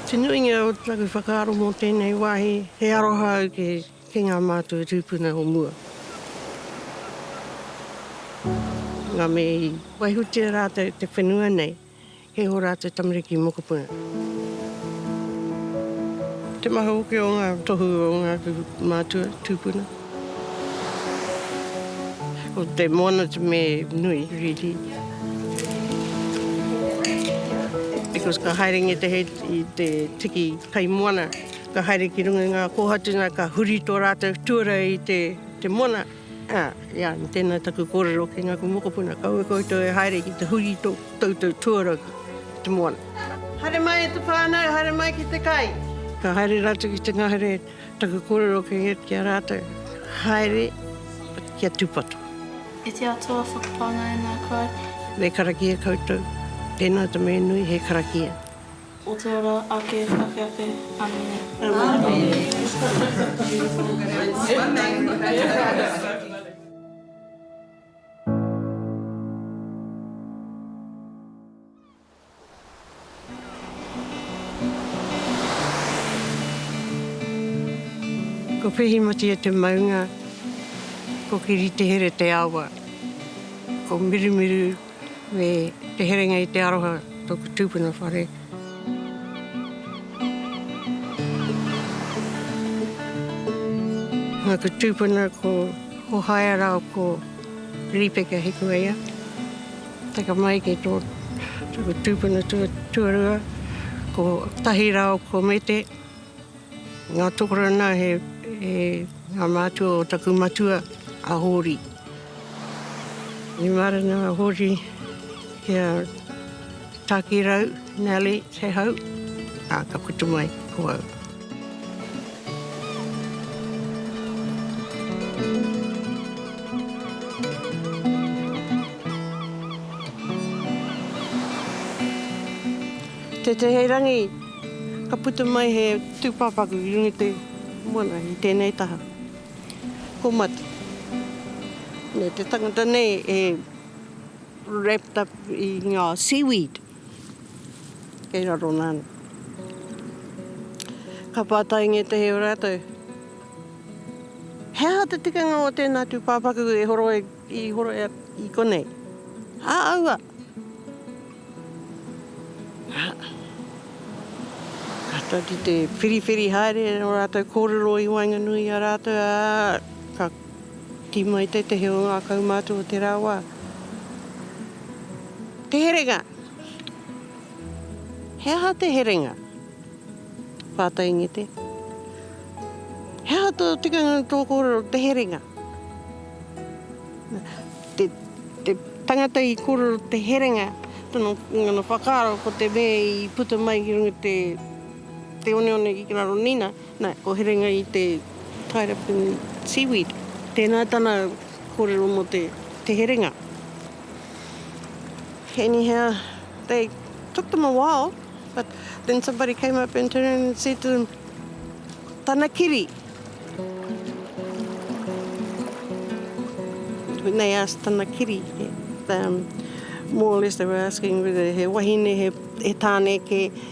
Te nuinga o taku whakaaro mō tēnei wāhi, he aroha au ki, ki ngā mātua tūpuna o mua. Nā, me i waihotia rātou te whenua nei, kei ō rātou tamariki mokopuna. Te maha hoki o ngā tohu o ngāku mātua tūpuna. Ko te moana te me nui riri. Because ka haere nge te hei i te tiki kai moana, ka haere ki runga i nga kohatu na ka huri to ratou tuara i te te moana. A, ia, tena taku korero ki ngaku mokopuna, kaua koutou e haere ki te huri to toutou tuara ki te moana. Haere mai e te whanau, haere mai ki te kai. Ka haere ratou ki te ngahere. Taku korero kei ia ki a ratou, haere ki a Tupato. E te Atua, whakapānga e ngā kai. Me karakia koutou. Tēnā te mea nui, he karakia. O te ora ake ake ake. Amene. Amene. Ko Whehimati e te maunga, ko Kiritehere te awa, ko Mirumiru me Te Herenga i te aroha toku tupuna whare. Aku tupuna ko Hohaia rao ko Ripeka Hikueia. Taka mai ki tō taku tūpuna tuarua, ko Tahirao Komete, ngā tokorana he ngā mātua o taku matua a Hōri. I mārena a Hōri ki a Tākirau, Nellie, te hau, ā, ka puta mai ko au. Te Teherangi, ka puta mai he tūpāpaku i runga i te moana i tēnei taha. Ko Mati. Nē, te tangata nei e wrapped up i ngā seaweed. Kei raro nāna. Ka pātai ngētehi o rātou, He aha te tikanga o tēnā tūpāpaku e horo ai, i horo ai i konei? Ā, aua! Ā, ka tari te whiriwhiri haere o rātou kōrero i waenganui i a rātou, ā, ka Tī mai tētehi o ngā kaumātua o te rā wā, Te Herenga! He aha te herenga? Pātai Ngete. He aha tō tikanga i tō kōrero te herenga? Te, te tangata i kōrero te herenga, tana, ngana whakaaro ko te mea i puta mai ki runga te, te oneone ki raro nina, Na, ko Herenga i te tied up in seaweed. Tēnā tana kōrero mō te, te herenga. Anyhow, they took them a while, but then somebody came up and turned and said to them, Tana kiri! When they asked tana kiri, um, more or less they were asking whether he wahine, he, he tāne kē,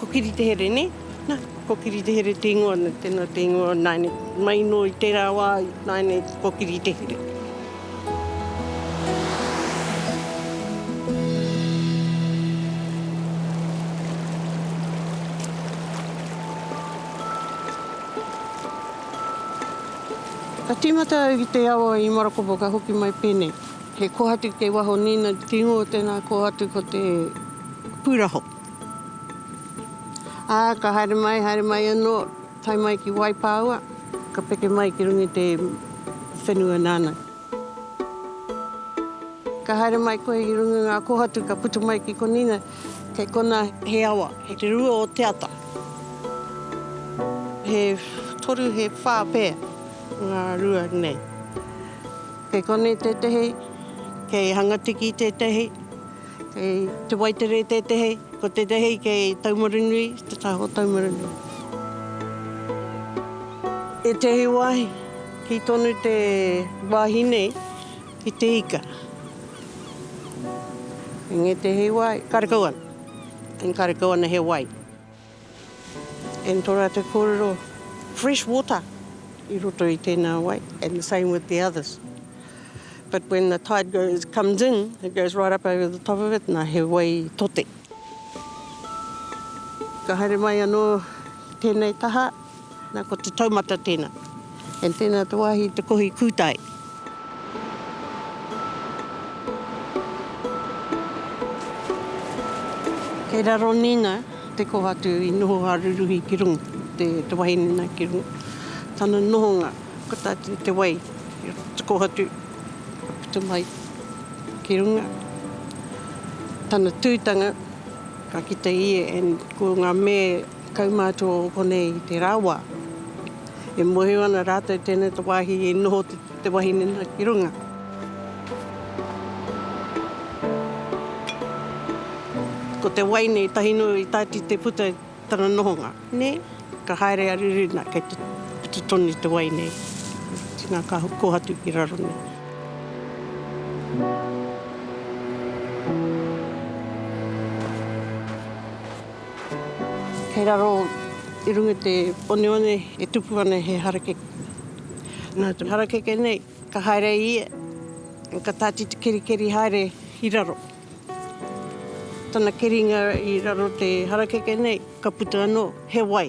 Ko Kiri te here ne? Na, ko Kiri te here te ingoa na tena te ingoa naine mai no i tera wa naine ko Kiri te here. Ka timata au ki te awa i Marakopa ka hoki mai pene. He kohatu kei waho nina te ingoa tena kohatu ko te Puraho. Ā, ka haere mai, haere mai anō, tae mai ki Waipāua, ka peke mai ki runga i te whenua nāna. Ka haere mai koe i runga i ngā kōhatu, ka puta mai ki konīna, kei konā he awa, he te rua o te ata. He toru, he whā pea ngā rua nei. Kei konei tētehi, kei Hangatiki tētehi. Kei Te Waitere tētehi, ko tētehi kei Taumarunui, te taha o Taumarunui. Ētehi wāhi, kī tonu te wāhi nei, ki te ika. Engētehi wāhi, karekau ana. Engari karekau ana he wai. And tō rātou kōrero, fresh water i roto i tēnā wai, and the same with the others. But when the tide goes, comes in, it goes right up over the top of it, nā he wai tote. Ka haere mai anō ki tēnei taha. Na, ko te taumata tena. And tena te wahi te kohi kutai. Kei raro nina te kohatu i noho a Ruruhi ki runga, te wahine na ki runga. Tana nohonga, ko ta te wai, te kohatu ka puta mai ki runga. Tana tutanga, ka kita ia and ko nga me Kaumātua o konei i te rawa. E mōhio ana rātou tēnei te wāhi i noho te wahine nā ki runga. Ko te wai nei tahi noa i tāti te puta i tana nohonga. Nē, ka haere a Ruruna kei te puta tonu te wai nei. Tina ka kohatu ki raro nei. Kei raro i runga i te oneone e tupu ana he harakeke. Nā te harakeke nei ka haere i ia, ka tātiti kerikeri haere i raro. Tana keringa i raro te harakeke nei ka puta anō he wai.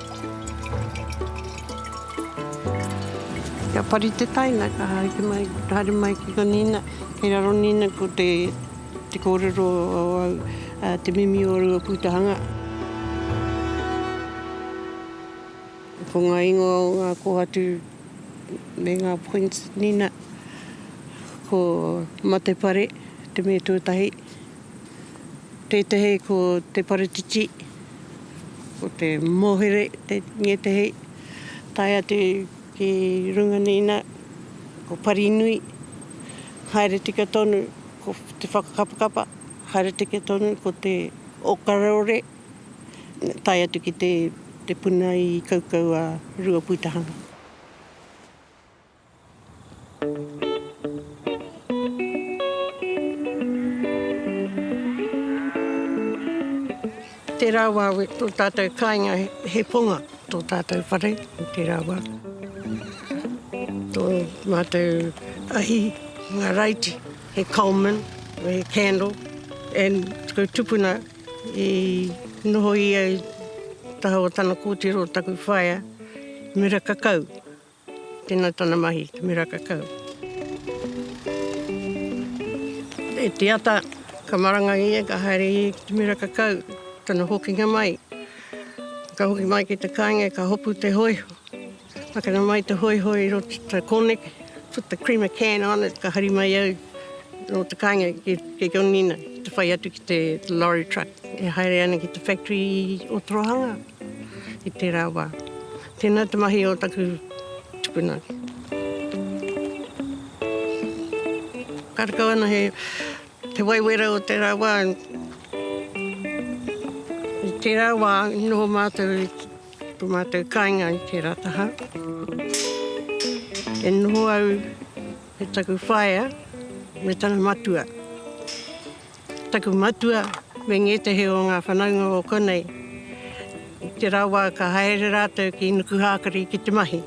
Kia pari te taina, ka haere mai, haere mai ki nga nina, kei raro nina ko te, te korero o au, te mimi o Ruapūtahanga. Ko nga ingoa o nga kohatu me nga points nina, ko Matepare, te me tuatahi. Tētehi ko te paretiti, ko te mohere ngētehi, tae atu ki runga nei nā, ko parinui, haere tika tonu ko te whakakapakapa, haere tika tonu ko te okarore, tae atu ki te puna i kaukau a Ruapūtahanga. Tērā wā tō tātou kāinga he ponga, tō tātou whare, tērā wā. Tō mātou ahi, ngā raiti, he Coleman, he candle, and taku tupuna i noho ia i taha o tana kōtiro, taku whaea, Mira Kakau. Tēnā tana mahi, te mera kakau. E te ata, ka maranga ia, ka haere ia ki te mera kakau, tana hokinga mai. Ka hoki mai ki te kāinga, ka hopu te hoiho. Pakana mai te hoiho i roto te kōneke, put the creamer can on it, ka hari mai au no te kāinga ki, ki Gonina, te whai atu ki te lorry truck e haere ana ki te factory o Torohanga i tērā wā. Tēnā te mahi o taku tupuna. Karekau ana he te waiwera o tērā wā. I tērā wā i noho mātou i tō mātou kāinga i tērā taha. E noho au me taku whaea me tana matua. Taku matua me ngētehi o ngā whanaunga o konei, i te rā wā ka haere rātou ki Nukuhākari ki te mahi.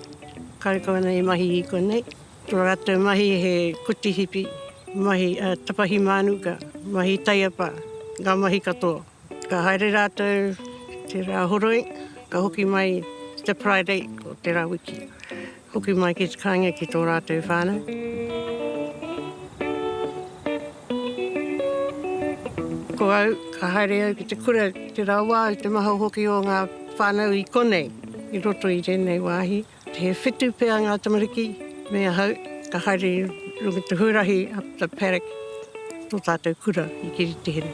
Karekau ana i mahi i konei. Tō rātou mahi he koti hipi, mahi tapahi mānuka, mahi taiapa, ngā mahi katoa. Ka haere rātou te rā horoi, ka hoki mai te Friday o te rā wiki. Hoki mai ki te kāinga ki tō rātou whānau. Ko au, ka haere au ki te kura, te rawa au, te maha hoki o ngā whānau i konei, i roto i tēnei wāhi. He whitu pea ngā tamariki me ahau, ka haere i runga i te huarahi up the paddock, tō tātou kura i Kiritihere.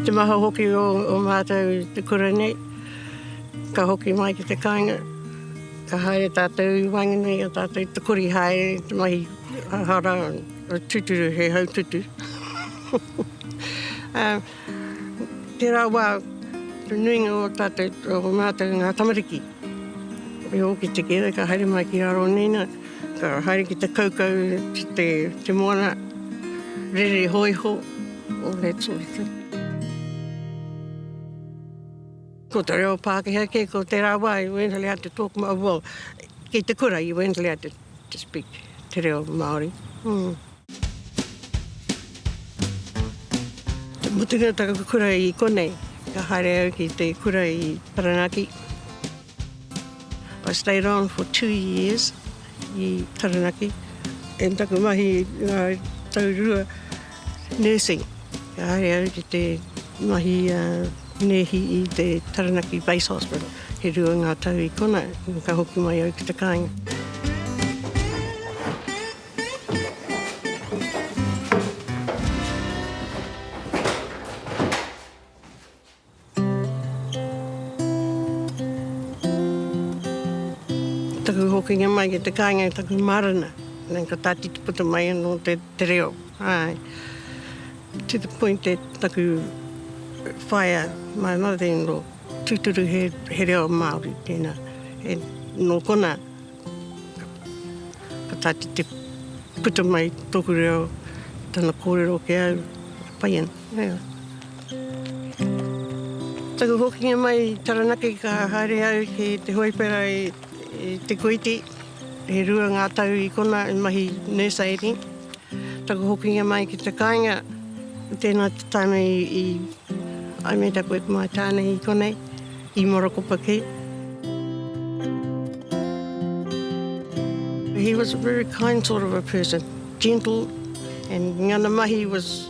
Te maha hoki o mātou i te kura nei, ka hoki mai ki te kāinga, ka haere tātou i waenganui i a tātou te kori haere te mahi hara. Tuturu he haututu. Tērā wā, te nuinga o tātou, o mātou ngā tamariki, e ōki te kere ka haere mai ki raro nei nā, ka haere ki te kaukau, te moana, rere hōiho, all that sort of thing. Ko te reo Pākehā kē, ko tērā wā, you weren't allowed to talk, well, ki te kura, you weren't allowed to. To speak te reo Māori. Mm. Mutunga taku kura i konei, ka haere au ki te kura i Taranaki. I stayed on for two years i Taranaki. And taku mahi ngā tau rua Nursing. Kāre au ki te mahi a nēhi i te Taranaki Base Hospital. He rua ngā tau i kona, ka hoki mai au ki te kāinga. Ko taku hokinga mai ki te kāinga i taku mārena, nā, ka tātiti puta mai anō te, te reo, āe. To the point that taku whaea, my mother-in-law, tūturu he, he reo Māori tēnā. E, nō konā, ka tātiti puta mai tōku reo, tana kōrero ki au, e pai ana. Taku hokinga mai i Taranaki ka haere au ki te hōipera i Te Koiti. E rua ngā tau i kona i mahi nurse aiding. Taku hokinga mai ki te kāinga, tēnā te taime i I made up with my tāne i konei, i Morokopaki. He was a very kind sort of a person, gentle and ngana mahi was...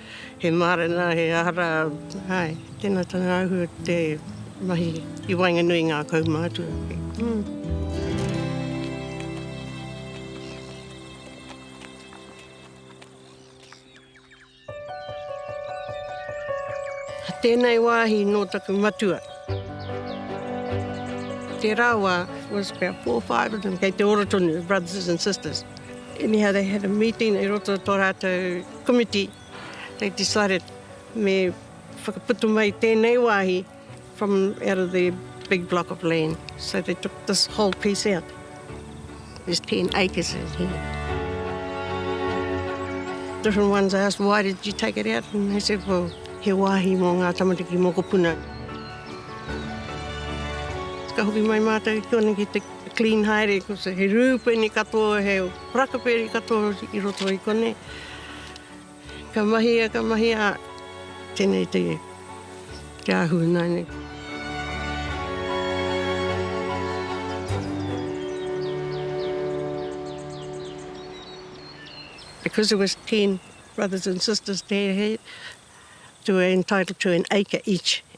He mārena, he ara, hai, tēnā tana ahu te mahi i waenganui i ngā kaumātua. Tēnei wāhi nō taku matua. Tērā wā, it was about four or five of them, kei te ora tonu, brothers and sisters. Anyhow, they had a meeting i roto i tō rātou. Komiti, they decided me whakaputa mai tēnei wāhi from out of their big block of land. So they took this whole piece out. There's 10 acres in here. Different ones asked, why did you take it out? And they said, well, he wāhi mō ngā tamariki mokopuna. Ka hoki mai mātou ki kōnei ki te clean haere, he rūpeni katoa, he Rakaperi katoa i roto i konei. Ka mahi ia, ka mahi ia, tenei te ahu ina nei. Because there was 10 brothers and sisters there, he, they were entitled to an acre each.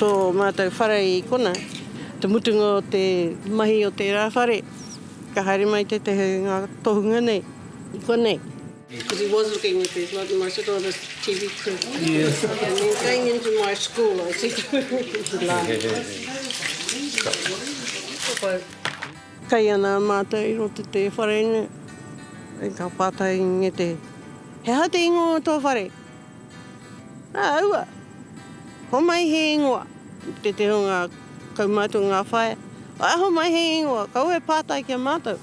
Tō mātou whare i konā, te mutunga o te mahi o tērā whare, ka haere mai tētahi o ngā tohunga nei i konei. Because he was looking at these lots, and I said, oh, this TV crew. Yes. And then going into my school, I said, Kei ana mātou i roto te whare nei, e ka pātai i ngete, he aha te ingoa o tō whare? Nā, aua, homai he ingoa. Te te o ngā kaumātua ngā whaea, aho mai he ingoa, kaua e pātai ki a mātou.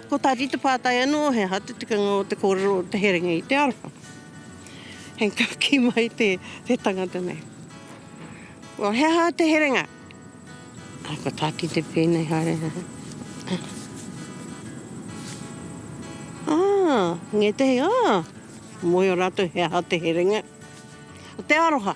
Ko tā Rita pātai anō, he aha te tikanga o te kōrero o te herenga i te aroha? Hei ka kī mai te, te tangata nei. Well, he aha te herenga? Ai, ko tā Tite pēnei, haere. Ah, ngētehi, ah, moe o rātou he aha te herenga? Te aroha.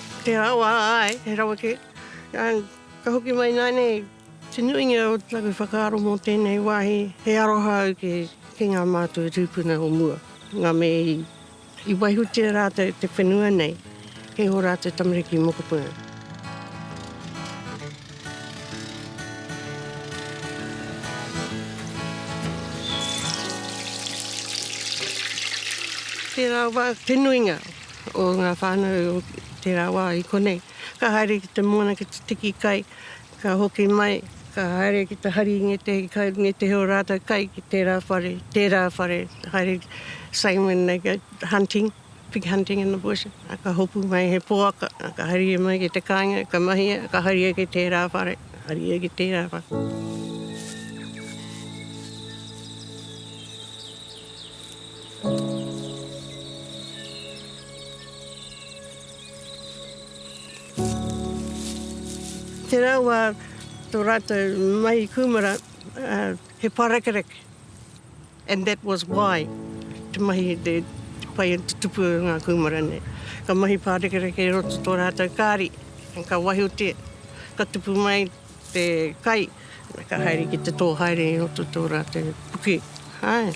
He rawa, āe, he rawa kē. Ka hoki mai nānei te nuinga o taku whakaaro mō tēnei wāhi, he aroha au ki ngā mātua tūpuna o mua, ngā mea i waihotia rātou te whenua nei kei ō rātou tamariki mokopuna. Tērā wā te nuinga o ngā whānau o tērā wā i konei. Ka haere ki te moana ki te tiki kai, ka hoki mai, ka haere ki te hari i ngētehi kai, ngētehi o rātou kai ki tērā whare, tērā whare, haere same when they go hunting, pig hunting in the bush, a ka hopu mai he poaka, a ka haere mai ki te kāinga, ka mahia, ka haere ki tērā whare, haere ki tērā whare. Te rau a tō rātou mahi kūmara, uh, he pārekereke. And that was why te mahi, te, te pai, te tupu o ngā kūmara nei. Ka mahi pārekereke i roto tō rātou kāri, ka wahiotia, ka tupu mai, te kai, ka haere ki te tō haere i roto tō rātou puke. Āe.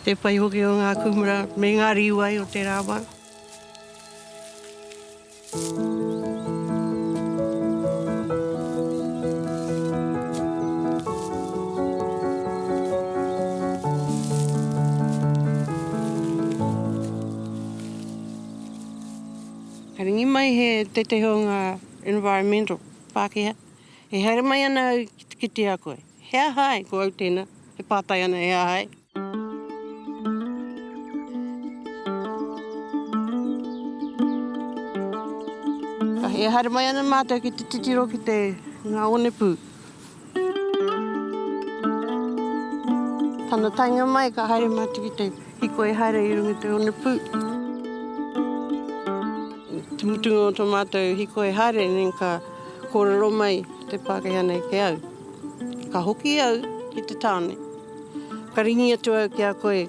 Te pai hoki o ngā kūmara me ngā rīwai o te rāwā. Ka ringi mai he tētehi o ngā. Environmental, Pākehā, E haere mai ana au ki te kite a koe. He aha ai? Ko au tēnā, e pātai ana he aha ai? E haere mai ana mātou ki te titiro ki te, ngā onepū. Tana taenga mai ka haere mātou ki te hiko e haere i runga i te onepū. Te mutunga o tō mātou hiko e haere nei ka kōrero mai te Pākehā nei ki au. Ka hoki au ki te tāone, ka ringi atu au ki a koe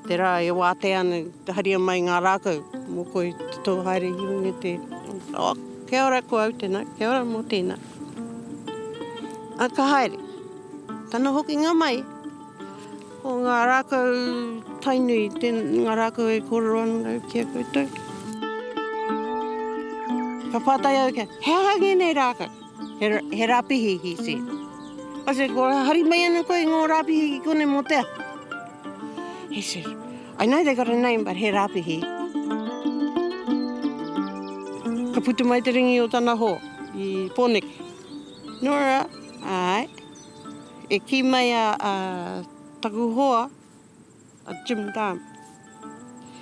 te rā e wātea ana, te haria mai ngā rākau mō koe te tō haere i runga i te onepū. Kia ora ko au tena. Kia ora mo tena. A ka haere. Tana hokinga mai, ko nga rakau Tainui, nga rakau e korero ana rau ki a koutou. Ka patai au kia, he aha ngenei rakau? He rapihi, he said. I said, well, hari mai ana koe i ngo rapihi ki konei mo te aha? He said, I know they got a name but he Rapihi. Ka putu mai te ringi o tana ho i Poneke. Nora, ae. E ki mai a taku hoa a Jim Dunn.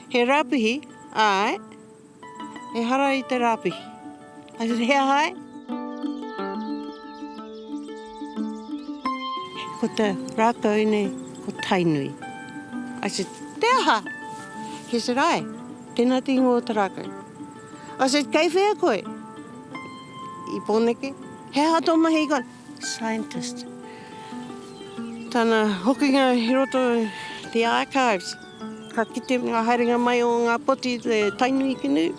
He Rapihi, ae. Ehara i te rāpihi. I said, he aha e? Ko te rākau nei, ko Tainui. I said, te aha? He said, ai, tēnā te ingoa o te rākau. I said, kei whea koe? I Pōneke. He aha tō mahi i konei? Scientist. Tana hokinga i roto the archives. Ka kite nga haerenga mai o nga poti te Tainui ki nei.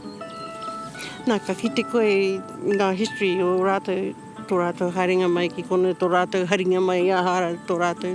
Na ka kite koe nga history o ratou, to ratou haerenga mai ki kono, to ratou haringa mai aha ra to ratou.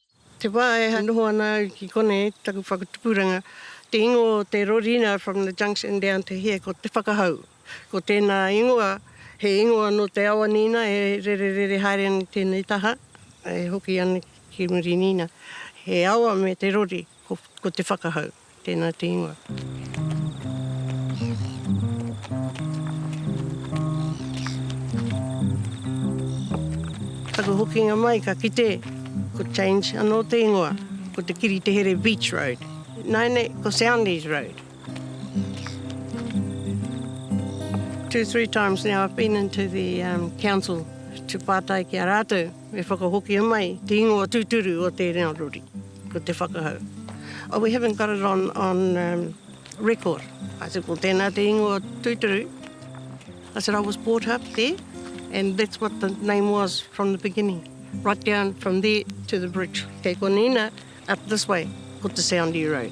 Te wā e noho ana au ki konei, taku whakatupuranga, te ingoa o te rorina from the junction down to here ko Te Whakahau. Ko tēnā ingoa, he ingoa nō Te Awanīna e rererere haere ana i tēnei taha, e hoki ana ki Murinīna. He awa me te rori, ko Te Whakahau. Tēnā te ingoa. Taku hokinga mai ka kite ko change anō te ingoa, ko Te Kiri Te Here Beach Road. Nāi nei ko Soundies Road. Two, three times now I've been into the um, council to pātai ki a rātou. Me whakahokia mai te ingoa tūturu o tēnā rori, ko te whakahau. Oh, we haven't got it on, on um, record. I said, ko tēnā te ingoa tūturu. I said, I was brought up there, and that's what the name was from the beginning. Right down from there to the bridge. Kei konina, up this way, ko te Soundie Road.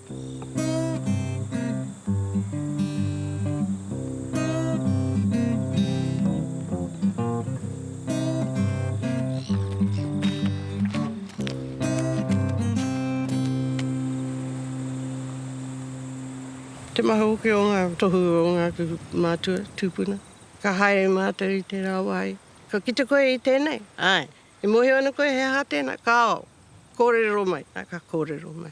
Te maha hoki o ngā tohu o ngā mātua tūpuna. Ka haere mātou i tērā wāhi. Ka kite koe i tēnei? Āe. E mōhio ana koe he aha tēnā? Kāo. Kōrero mai. Āe, ka kōrero mai.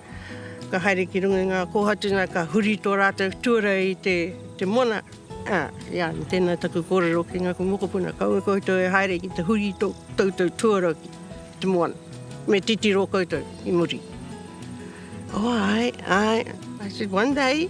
Ka haere ki runga i ngā kōhautuna, ka huri tō rātou tuara i te mona. Ā, i a, tēnā taku kōrero ki ngāku mokopuna, kaua koutou e haere ki te huri i tō koutou tuara ki te moana. Me titiro koutou i muri. Oh, āe, āe. I said, one day.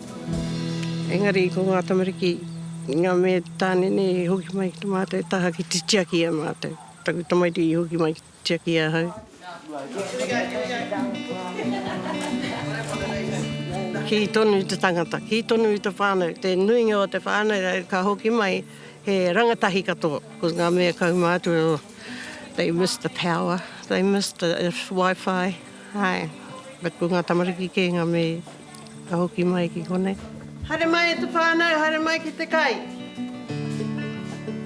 Engari ko ngā tamariki, ngā me tāne nei i hoki mai ki te mātou taha ki te tiaki i a mātou. Taku tamaiti i hoki mai ki te tiaki i ahau. Kī tonu te tangata, kī tonu te whānau, te nuinga o te whānau ka hoki mai he rangatahi katoa. Ko ngā mea kaumātua, they miss the power, they miss the wifi, āe. But ko ngā tamariki kē ngā me. Ka hoki mai ki konei. Haere mai e te whānau, haere mai ki te kai.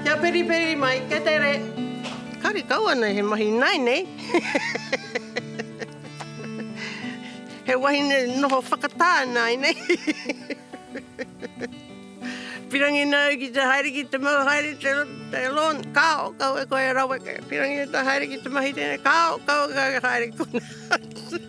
Kia periperi mai, kia tere. Kare kau ana he mahi ināi nei. He wahine noho whakatā ināi nei. Pirangi nāu ki te haere ki te mau haere te te lawn, kāo, kaua koe e raweke. Pirangi e te haere ki te mahi tēnei, kāo, kaua koe e haere konā.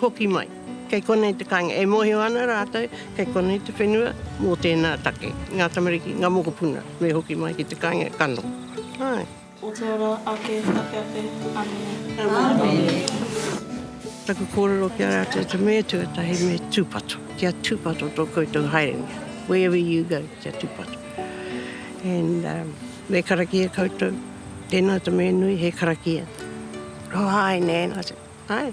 Hoki mai. Kei konei te kāinga. E mōhio ana rātou, kei konei te whenua mō tēnā take. Ngā tamariki, ngā mokopuna, me hoki mai ki te kāinga, ka noho. Āe. O te ora ake, ake ake. Āmine. Āmine. Taku kōrero ki a rātou, te mea tuatahi me tūpato. Kia tūpato tō koutou haerenga. Wherever you go, kia tūpato. And um, me karakia koutou. Tēnā te mea nui, he karakia. Oh, āe nē, āe.